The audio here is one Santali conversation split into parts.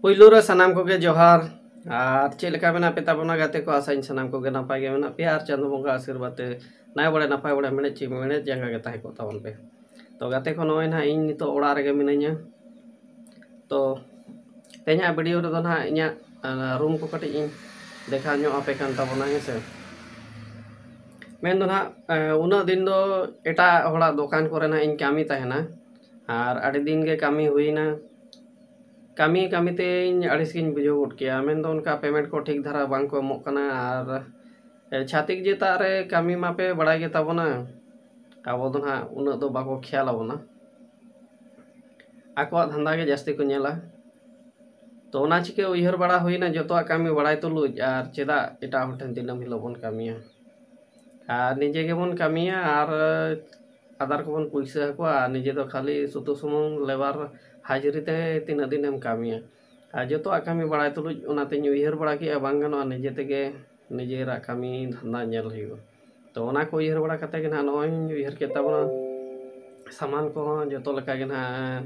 ᱯᱩᱭᱞᱩ ᱨᱮ ᱥᱟᱱᱟᱢ ᱠᱚᱜᱮ ᱡᱚᱦᱟᱨ ᱟᱨ ᱪᱮᱫ ᱞᱮᱠᱟ ᱢᱮᱱᱟᱜ ᱯᱮ ᱛᱟᱵᱚᱱᱟ ᱜᱟᱛᱮ ᱠᱚ ᱟᱥᱟᱧ ᱥᱟᱱᱟᱢ ᱠᱚᱜᱮ ᱱᱟᱯᱟᱭ ᱜᱮ ᱢᱮᱱᱟᱜ ᱯᱮᱭᱟ ᱟᱨ ᱪᱟᱸᱫᱚ ᱵᱚᱸᱜᱟ ᱟᱥᱤᱨᱵᱟᱫᱽ ᱛᱮ ᱱᱟᱭ ᱵᱟᱲᱮ ᱱᱟᱯᱟᱭ ᱵᱟᱲᱮ ᱢᱮᱬᱮᱫ ᱪᱮ ᱢᱮᱬᱮᱫ ᱡᱟᱸᱜᱟ ᱜᱮ ᱛᱟᱦᱮᱸ ᱠᱚᱜ ᱛᱟᱵᱚᱱ ᱯᱮ ᱛᱚ ᱜᱟᱛᱮ ᱠᱚ ᱱᱚᱜᱼᱚᱭ ᱱᱟᱦᱟᱜ ᱤᱧ ᱱᱤᱛᱚᱜ ᱚᱲᱟᱜ ᱨᱮᱜᱮ ᱢᱤᱱᱟᱹᱧᱟ ᱛᱚ ᱛᱮᱦᱮᱧᱟᱜ ᱵᱷᱤᱰᱤᱭᱳ ᱨᱮᱫᱚ ᱱᱟᱦᱟᱜ ᱤᱧᱟᱹᱜ ᱨᱩᱢ ᱠᱚ ᱠᱟᱹᱴᱤᱡ ᱤᱧ ᱫᱮᱠᱷᱟᱣ ᱧᱚᱜ ᱟᱯᱮ ᱠᱟᱱ ᱛᱟᱵᱚᱱᱟ ᱦᱮᱸ ᱥᱮ ᱢᱮᱱ ᱫᱚ ᱱᱟᱦᱟᱜ ᱩᱱᱟᱹᱜ ᱫᱤᱱ ᱫᱚ ᱮᱴᱟᱜ ᱦᱚᱲᱟᱜ ᱫᱚᱠᱟᱱ ᱠᱚᱨᱮ ᱱᱟᱦᱟᱜ ᱤᱧ ᱠᱟᱹᱢᱤ ᱛᱟᱦᱮᱱᱟ ᱟᱨ ᱟᱹᱰᱤ ᱫᱤᱱ ᱜᱮ ᱠᱟᱹᱢᱤ ᱦᱩᱭᱮᱱᱟ ᱠᱟᱹᱢᱤ ᱠᱟᱹᱢᱤ ᱛᱤᱧ ᱟᱹᱲᱤᱥ ᱜᱤᱧ ᱵᱩᱡᱷᱟᱹᱣ ᱜᱚᱫ ᱠᱮᱜᱼᱟ ᱢᱮᱱ ᱫᱚ ᱚᱱᱠᱟ ᱯᱮᱢᱮᱱᱴ ᱠᱚ ᱴᱷᱤᱠ ᱫᱷᱟᱨᱟ ᱵᱟᱝ ᱠᱚ ᱮᱢᱚᱜ ᱠᱟᱱᱟ ᱟᱨ ᱪᱷᱟᱹᱛᱤᱠ ᱡᱟᱹᱛᱟᱜ ᱨᱮ ᱠᱟᱹᱢᱤ ᱢᱟᱯᱮ ᱵᱟᱲᱟᱭ ᱜᱮᱛᱟ ᱵᱚᱱᱟ ᱟᱵᱚ ᱫᱚ ᱦᱟᱸᱜ ᱩᱱᱟᱹᱜ ᱫᱚ ᱵᱟᱠᱚ ᱠᱷᱮᱭᱟᱞ ᱟᱵᱚᱱᱟ ᱟᱠᱚᱣᱟᱜ ᱫᱷᱟᱱᱫᱟ ᱜᱮ ᱡᱟᱹᱥᱛᱤ ᱠᱚ ᱧᱮᱞᱟ ᱛᱚ ᱚᱱᱟ ᱪᱤᱠᱟᱹ ᱩᱭᱦᱟᱹᱨ ᱵᱟᱲᱟ ᱦᱩᱭᱱᱟ ᱡᱚᱛᱚᱣᱟᱜ ᱠᱟᱹᱢᱤ ᱵᱟᱲᱟᱭ ᱛᱩᱞᱩᱡ ᱟᱨ ᱪᱮᱫᱟᱜ ᱮᱴᱟᱜ ᱦᱚᱲ ᱴᱷᱮᱱ ᱫᱤᱱᱟᱹᱢ ᱦᱤᱞᱳᱜ ᱵᱚᱱ ᱠᱟᱹᱢᱤᱭᱟ ᱟᱨ ᱱᱤᱡᱮ ᱜᱮᱵᱚᱱ ᱠᱟᱹᱢᱤᱭᱟ ᱟᱨ ᱟᱫᱟᱨ ᱠᱚᱵᱚᱱ ᱯᱩᱭᱥᱟᱹ ᱟᱠᱚᱣᱟ ᱟᱨ ᱱᱤᱡᱮ ᱫᱚ ᱠᱷᱟᱹᱞᱤ ᱥᱩᱫᱩ ᱥᱩᱢᱩᱝ ᱞᱮᱵᱟᱨ ᱦᱟᱡᱽᱨᱤ ᱛᱮ ᱛᱤᱱᱟᱹᱜ ᱫᱤᱱᱮᱢ ᱠᱟᱹᱢᱤᱭᱟ ᱟᱨ ᱡᱚᱛᱚᱣᱟᱜ ᱠᱟᱹᱢᱤ ᱵᱟᱲᱟᱭ ᱛᱩᱞᱩᱡ ᱚᱱᱟᱛᱤᱧ ᱩᱭᱦᱟᱹᱨ ᱵᱟᱲᱟ ᱠᱮᱜᱼᱟ ᱵᱟᱝ ᱜᱟᱱᱚᱜᱼᱟ ᱱᱤᱡᱮ ᱛᱮᱜᱮ ᱱᱤᱡᱮᱨᱟᱜ ᱠᱟᱹᱢᱤ ᱫᱷᱟᱱᱫᱟ ᱧᱮᱞ ᱦᱩᱭᱩᱜᱼᱟ ᱛᱚ ᱚᱱᱟ ᱠᱚ ᱩᱭᱦᱟᱹᱨ ᱵᱟᱲᱟ ᱠᱟᱛᱮᱫ ᱜᱮ ᱱᱟᱦᱟᱜ ᱱᱚᱜᱼᱚᱭ ᱤᱧ ᱩᱭᱦᱟᱹᱨ ᱠᱮᱫ ᱛᱟᱵᱚᱱᱟ ᱥᱟᱢᱟᱱ ᱠᱚᱦᱚᱸ ᱡᱚᱛᱚ ᱞᱮᱠᱟᱜᱮ ᱱᱟᱦᱟᱜ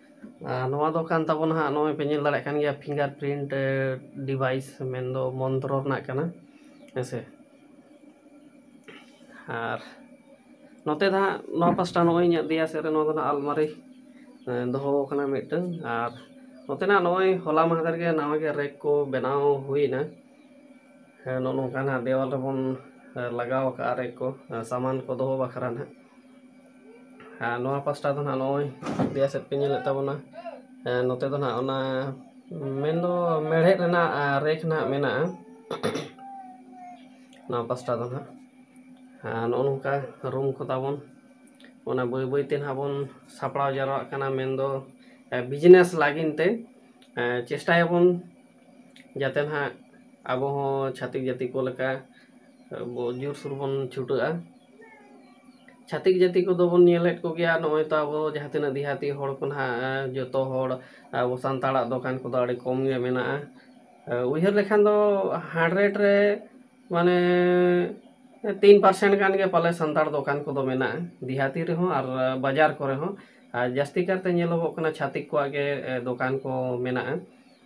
ᱟᱨ ᱱᱚᱣᱟ ᱫᱚ ᱠᱟᱱ ᱛᱟᱵᱚᱱᱟ ᱦᱟᱸᱜ ᱱᱚᱜᱼᱚᱭ ᱯᱮ ᱧᱮᱞ ᱫᱟᱲᱮᱭᱟᱜ ᱠᱟᱱ ᱜᱮᱭᱟ ᱯᱷᱤᱝᱜᱟᱨ ᱯᱨᱤᱱᱴ ᱰᱤᱵᱷᱟᱭᱤᱥ ᱢᱮᱱᱫᱚ ᱢᱚᱱᱛᱨᱚ ᱨᱮᱱᱟᱜ ᱠᱟᱱᱟ ᱦᱮᱸ ᱥᱮ ᱟᱨ ᱱᱚᱛᱮ ᱫᱚ ᱦᱟᱸᱜ ᱱᱚᱣᱟ ᱯᱟᱥᱴᱟ ᱱᱚᱜᱼᱚᱭ ᱤᱧᱟᱹᱜ ᱫᱮᱭᱟ ᱥᱮᱫ ᱨᱮ ᱱᱚᱣᱟ ᱫᱚ ᱦᱟᱸᱜ ᱟᱞᱢᱟᱨᱤ ᱫᱚᱦᱚ ᱠᱟᱱᱟ ᱢᱤᱫᱴᱟᱹᱝ ᱟᱨ ᱱᱚᱛᱮᱱᱟᱜ ᱱᱚᱜᱼᱚᱭ ᱦᱚᱞᱟ ᱢᱟᱦᱫᱮᱨ ᱜᱮ ᱱᱟᱣᱟ ᱜᱮ ᱨᱮᱠ ᱠᱚ ᱵᱮᱱᱟᱣ ᱦᱩᱭᱱᱟ ᱦᱮᱸ ᱱᱚᱜᱼᱚ ᱱᱚᱝᱠᱟᱱᱟᱜ ᱫᱮᱣᱟᱞ ᱨᱮᱵᱚᱱ ᱞᱟᱜᱟᱣ ᱠᱟᱜᱼᱟ ᱨᱮᱠ ᱠᱚ ᱥᱟᱢᱟᱱ ᱠᱚ ᱫᱚᱦᱚ ᱵᱟᱠᱷᱨᱟ ᱦᱟᱸᱜ ᱟᱨ ᱱᱚᱣᱟ ᱯᱟᱥᱴᱟ ᱫᱚ ᱱᱟᱦᱟᱜ ᱱᱚᱜᱼᱚᱭ ᱫᱮᱭᱟ ᱥᱮᱫ ᱯᱮ ᱧᱮᱞᱮᱫ ᱛᱟᱵᱚᱱᱟ ᱱᱚᱛᱮ ᱫᱚ ᱱᱟᱦᱟᱜ ᱚᱱᱟ ᱢᱮᱱ ᱫᱚ ᱢᱮᱬᱦᱮᱫ ᱨᱮᱱᱟᱜ ᱨᱮᱠ ᱱᱟᱦᱟᱜ ᱢᱮᱱᱟᱜᱼᱟ ᱱᱚᱣᱟ ᱯᱟᱥᱴᱟ ᱫᱚ ᱱᱟᱦᱟᱜ ᱟᱨ ᱱᱚᱜᱼᱚ ᱱᱚᱝᱠᱟ ᱨᱩᱢ ᱠᱚ ᱛᱟᱵᱚᱱ ᱚᱱᱟ ᱵᱟᱹᱭ ᱵᱟᱹᱭ ᱛᱮ ᱱᱟᱦᱟᱜ ᱵᱚᱱ ᱥᱟᱯᱲᱟᱣ ᱡᱟᱣᱨᱟᱜ ᱠᱟᱱᱟ ᱢᱮᱱ ᱫᱚ ᱵᱤᱡᱽᱱᱮᱥ ᱞᱟᱹᱜᱤᱫ ᱛᱮ ᱪᱮᱥᱴᱟᱭᱟᱵᱚᱱ ᱡᱟᱛᱮ ᱱᱟᱦᱟᱜ ᱟᱵᱚ ᱦᱚᱸ ᱪᱷᱟᱹᱛᱤᱠ ᱡᱟᱹᱛᱤ ᱠᱚ ᱞᱮᱠᱟ ᱟᱵᱚ ᱡᱳᱨ ᱥᱳᱨ ᱵᱚᱱ ᱪᱷᱩᱴᱟᱹᱜᱼᱟ ᱪᱷᱟᱹᱛᱤᱠ ᱡᱟᱹᱛᱤ ᱠᱚᱫᱚ ᱵᱚᱱ ᱧᱮᱞᱮᱫ ᱠᱚᱜᱮᱭᱟ ᱱᱚᱜᱼᱚᱸᱭ ᱛᱚ ᱟᱵᱚ ᱡᱟᱦᱟᱸ ᱛᱤᱱᱟᱹᱜ ᱫᱤᱦᱟᱹᱛᱤ ᱦᱚᱲ ᱠᱚ ᱱᱟᱦᱟᱜ ᱡᱚᱛᱚ ᱦᱚᱲ ᱟᱵᱚ ᱥᱟᱱᱛᱟᱲᱟᱜ ᱫᱚᱠᱟᱱ ᱠᱚᱫᱚ ᱟᱹᱰᱤ ᱠᱚᱢ ᱜᱮ ᱢᱮᱱᱟᱜᱼᱟ ᱩᱭᱦᱟᱹᱨ ᱞᱮᱠᱷᱟᱱ ᱫᱚ ᱦᱟᱱᱰᱨᱮᱰ ᱨᱮ ᱢᱟᱱᱮ ᱛᱤᱱ ᱯᱟᱨᱥᱮᱱ ᱜᱟᱱ ᱜᱮ ᱯᱟᱞᱮ ᱥᱟᱱᱛᱟᱲ ᱫᱚᱠᱟᱱ ᱠᱚᱫᱚ ᱢᱮᱱᱟᱜᱼᱟ ᱫᱤᱦᱟᱹᱛᱤ ᱨᱮᱦᱚᱸ ᱟᱨ ᱵᱟᱡᱟᱨ ᱠᱚᱨᱮ ᱦᱚᱸ ᱟᱨ ᱡᱟᱹᱥᱛᱤ ᱠᱟᱨᱛᱮ ᱧᱮᱞᱚᱜᱚᱜ ᱠᱟᱱᱟ ᱪᱷᱟᱹᱛᱤᱠ ᱠᱚᱣᱟᱜ ᱜᱮ ᱫᱚᱠᱟᱱ ᱠᱚ ᱢᱮᱱᱟᱜᱼᱟ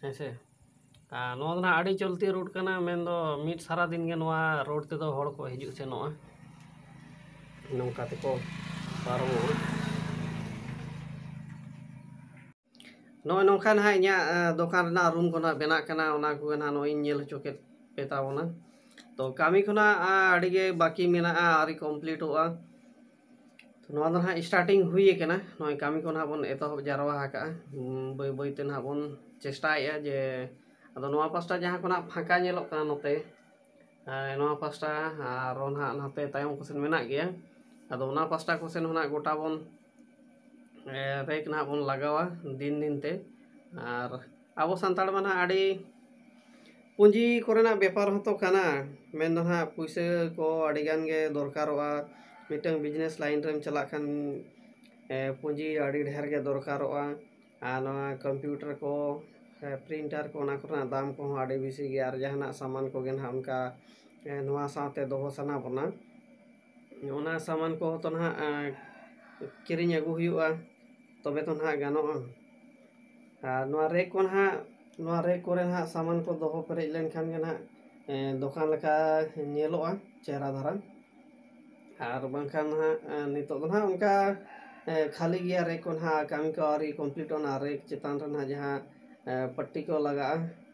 ᱦᱮᱸ ᱥᱮ ᱟᱨ ᱱᱚᱣᱟ ᱫᱚ ᱱᱟᱦᱟᱜ ᱟᱹᱰᱤ ᱪᱚᱞᱛᱤ ᱨᱳᱰ ᱠᱟᱱᱟ ᱢᱮᱱ ᱫᱚ ᱢᱤᱫ ᱥᱟᱨᱟ ᱫᱤᱱ ᱜᱮ ᱱᱚᱣᱟ ᱨᱳᱰ ᱛᱮᱫᱚ ᱦᱚᱲ ᱠᱚ ᱦᱤᱡᱩᱜ ᱥᱮᱱᱚᱜᱼᱟ ᱱᱚᱝᱠᱟ ᱛᱮᱠᱚ ᱯᱟᱨᱚᱢᱚᱜᱼᱟ ᱱᱚᱜᱼᱚᱭ ᱱᱚᱝᱠᱟ ᱱᱟᱦᱟᱜ ᱤᱧᱟᱹᱜ ᱫᱚᱠᱟᱱ ᱨᱮᱱᱟᱜ ᱨᱩᱢ ᱠᱚ ᱱᱟᱦᱟᱜ ᱵᱮᱱᱟᱜ ᱠᱟᱱᱟ ᱚᱱᱟ ᱠᱚᱜᱮ ᱱᱟᱦᱟᱜ ᱱᱚᱜᱼᱚᱭ ᱤᱧ ᱧᱮᱞ ᱦᱚᱪᱚ ᱠᱮᱫ ᱯᱮ ᱛᱟᱵᱚᱱᱟ ᱛᱚ ᱠᱟᱹᱢᱤ ᱠᱷᱚᱱᱟᱜ ᱟᱹᱰᱤ ᱜᱮ ᱵᱟᱹᱠᱤ ᱢᱮᱱᱟᱜᱼᱟ ᱟᱹᱣᱨᱤ ᱠᱚᱢᱯᱞᱤᱴᱚᱜᱼᱟ ᱱᱚᱣᱟ ᱫᱚ ᱱᱟᱦᱟᱜ ᱥᱴᱟᱨᱴᱤᱝ ᱦᱩᱭ ᱟᱠᱟᱱᱟ ᱱᱚᱜᱼᱚᱭ ᱠᱟᱹᱢᱤ ᱠᱚ ᱱᱟᱦᱟᱜ ᱵᱚᱱ ᱮᱛᱚᱦᱚᱵ ᱡᱟᱣᱨᱟ ᱟᱠᱟᱫᱼᱟ ᱵᱟᱹᱭ ᱵᱟᱹᱭ ᱛᱮ ᱱᱟᱦᱟᱜ ᱵᱚᱱ ᱪᱮᱥᱴᱟᱭᱮᱫᱼᱟ ᱡᱮ ᱟᱫᱚ ᱱᱚᱣᱟ ᱯᱟᱥᱴᱟ ᱡᱟᱦᱟᱸ ᱠᱚ ᱱᱟᱦᱟᱜ ᱯᱷᱟᱸᱠᱟ ᱧᱮᱞᱚᱜ ᱠᱟᱱᱟ ᱱᱚᱛᱮ ᱱᱚᱣᱟ ᱯᱟᱥᱴᱟ ᱟᱨᱚ ᱱᱟᱦᱟᱜ ᱱᱚᱛᱮ ᱛᱟᱭᱚᱢ ᱠᱚᱥᱮᱱ ᱢᱮᱱᱟᱜ ᱜᱮᱭᱟ ᱟᱫᱚ ᱚᱱᱟ ᱯᱟᱥᱴᱟ ᱠᱚᱥᱮᱱ ᱦᱚᱸ ᱱᱟᱦᱟᱜ ᱜᱚᱴᱟ ᱵᱚᱱ ᱨᱮᱠ ᱱᱟᱦᱟᱜ ᱵᱚᱱ ᱞᱟᱜᱟᱣᱟ ᱫᱤᱱ ᱫᱤᱱ ᱛᱮ ᱟᱨ ᱟᱵᱚ ᱥᱟᱱᱛᱟᱲ ᱢᱟ ᱱᱟᱦᱟᱜ ᱟᱹᱰᱤ ᱯᱩᱸᱡᱤ ᱠᱚᱨᱮᱱᱟᱜ ᱵᱮᱯᱟᱨ ᱦᱚᱸᱛᱚ ᱠᱟᱱᱟ ᱢᱮᱱ ᱫᱚ ᱱᱟᱦᱟᱜ ᱯᱩᱭᱥᱟᱹ ᱠᱚ ᱟᱹᱰᱤ ᱜᱟᱱ ᱜᱮ ᱫᱚᱨᱠᱟᱨᱚᱜᱼᱟ ᱢᱤᱫᱴᱟᱹᱝ ᱵᱤᱡᱽᱱᱮᱥ ᱞᱟᱭᱤᱱ ᱨᱮᱢ ᱪᱟᱞᱟᱜ ᱠᱷᱟᱱ ᱯᱩᱸᱡᱤ ᱟᱹᱰᱤ ᱰᱷᱮᱨ ᱜᱮ ᱫᱚᱨᱠᱟᱨᱚᱜᱼᱟ ᱟᱨ ᱱᱚᱣᱟ ᱠᱚᱢᱯᱤᱭᱩᱴᱟᱨ ᱠᱚ ᱥᱮ ᱯᱨᱤᱱᱴᱟᱨ ᱠᱚ ᱚᱱᱟ ᱠᱚᱨᱮᱱᱟᱜ ᱫᱟᱢ ᱠᱚ ᱦᱚᱸ ᱟᱹᱰᱤ ᱵᱮᱥᱤ ᱜᱮᱭᱟ ᱟᱨ ᱡᱟᱦᱟᱱᱟᱜ ᱥᱟᱢᱟᱱ ᱠᱚᱜᱮ ᱱᱟᱦᱟᱜ ᱚᱱᱠᱟ ᱱᱚᱣᱟ ᱥᱟᱶᱛᱮ ᱫᱚᱦᱚ ᱥᱟᱱᱟ ᱵᱚᱱᱟ ᱚᱱᱟ ᱥᱟᱢᱟᱱ ᱠᱚᱦᱚᱸ ᱛᱚ ᱱᱟᱦᱟᱜ ᱠᱤᱨᱤᱧ ᱟᱹᱜᱩ ᱦᱩᱭᱩᱜᱼᱟ ᱛᱚᱵᱮ ᱛᱚ ᱱᱟᱦᱟᱜ ᱜᱟᱱᱚᱜᱼᱟ ᱟᱨ ᱱᱚᱣᱟ ᱨᱮᱠ ᱠᱚ ᱱᱟᱦᱟᱜ ᱱᱚᱣᱟ ᱨᱮᱠ ᱠᱚᱨᱮ ᱱᱟᱦᱟᱜ ᱥᱟᱢᱟᱱ ᱠᱚ ᱫᱚᱦᱚ ᱯᱮᱨᱮᱡ ᱞᱮᱱᱠᱷᱟᱱ ᱜᱮ ᱱᱟᱦᱟᱜ ᱫᱚᱠᱟᱱ ᱞᱮᱠᱟ ᱧᱮᱞᱚᱜᱼᱟ ᱪᱮᱦᱨᱟ ᱫᱷᱟᱨᱟ ᱟᱨ ᱵᱟᱝᱠᱷᱟᱱ ᱱᱟᱦᱟᱜ ᱱᱤᱛᱳᱜ ᱫᱚ ᱱᱟᱦᱟᱜ ᱚᱱᱠᱟ ᱠᱷᱟᱹᱞᱤ ᱜᱮᱭᱟ ᱨᱮᱠ ᱠᱚ ᱱᱟᱦᱟᱜ ᱠᱟᱹᱢᱤ ᱠᱚ ᱟᱹᱣᱨᱤ ᱠᱚᱢᱯᱞᱤᱴᱚᱜᱼᱟ ᱚᱱᱟ ᱨᱮᱠ ᱪᱮᱛᱟᱱ ᱨᱮ ᱱᱟᱦᱟᱜ ᱡᱟᱦᱟᱸ ᱯᱟᱴᱴᱤ ᱠᱚ ᱞᱟᱜᱟᱜᱼᱟ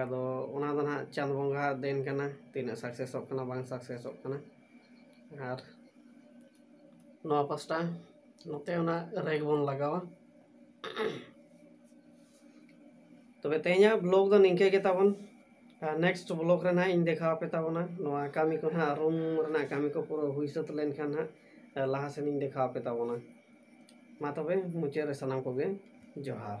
ᱟᱫᱚ ᱚᱱᱟ ᱫᱚ ᱱᱟᱦᱟᱜ ᱪᱟᱸᱫᱽ ᱵᱚᱸᱜᱟ ᱫᱮᱱ ᱠᱟᱱᱟ ᱛᱤᱱᱟᱹᱜ ᱥᱟᱠᱥᱮᱥᱚᱜ ᱠᱟᱱᱟ ᱵᱟᱝ ᱥᱟᱠᱥᱮᱥᱚᱜ ᱠᱟᱱᱟ ᱟᱨ ᱱᱚᱣᱟ ᱯᱟᱥᱴᱟ ᱱᱚᱛᱮ ᱚᱱᱟ ᱨᱮᱜᱽ ᱵᱚᱱ ᱞᱟᱜᱟᱣᱟ ᱛᱚᱵᱮ ᱛᱮᱦᱮᱧᱟᱜ ᱵᱞᱚᱜ ᱫᱚ ᱱᱤᱝᱠᱟᱹ ᱜᱮ ᱛᱟᱵᱚᱱ ᱟᱨ ᱱᱮᱠᱥᱴ ᱵᱞᱚᱜ ᱨᱮ ᱱᱟᱦᱟᱜ ᱤᱧ ᱫᱮᱠᱷᱟᱣ ᱟᱯᱮ ᱛᱟᱵᱚᱱᱟ ᱱᱚᱣᱟ ᱠᱟᱹᱢᱤ ᱠᱚ ᱱᱟᱦᱟᱜ ᱨᱩᱢ ᱨᱮᱱᱟᱜ ᱠᱟᱹᱢᱤ ᱠᱚ ᱯᱩᱨᱟᱹ ᱦᱩᱭ ᱥᱟᱹᱛ ᱞᱮᱱᱠᱷᱟᱱ ᱱᱟᱦᱟᱜ ᱞᱟᱦᱟ ᱥᱮᱱ ᱤᱧ ᱫᱮᱠᱷᱟᱣ ᱟᱯᱮ ᱛᱟᱵᱚᱱᱟ ᱢᱟ ᱛᱚᱵᱮ ᱢᱩᱪᱟᱹᱫ ᱨᱮ ᱥᱟᱱᱟᱢ ᱠᱚᱜᱮ ᱡᱚᱦᱟᱨ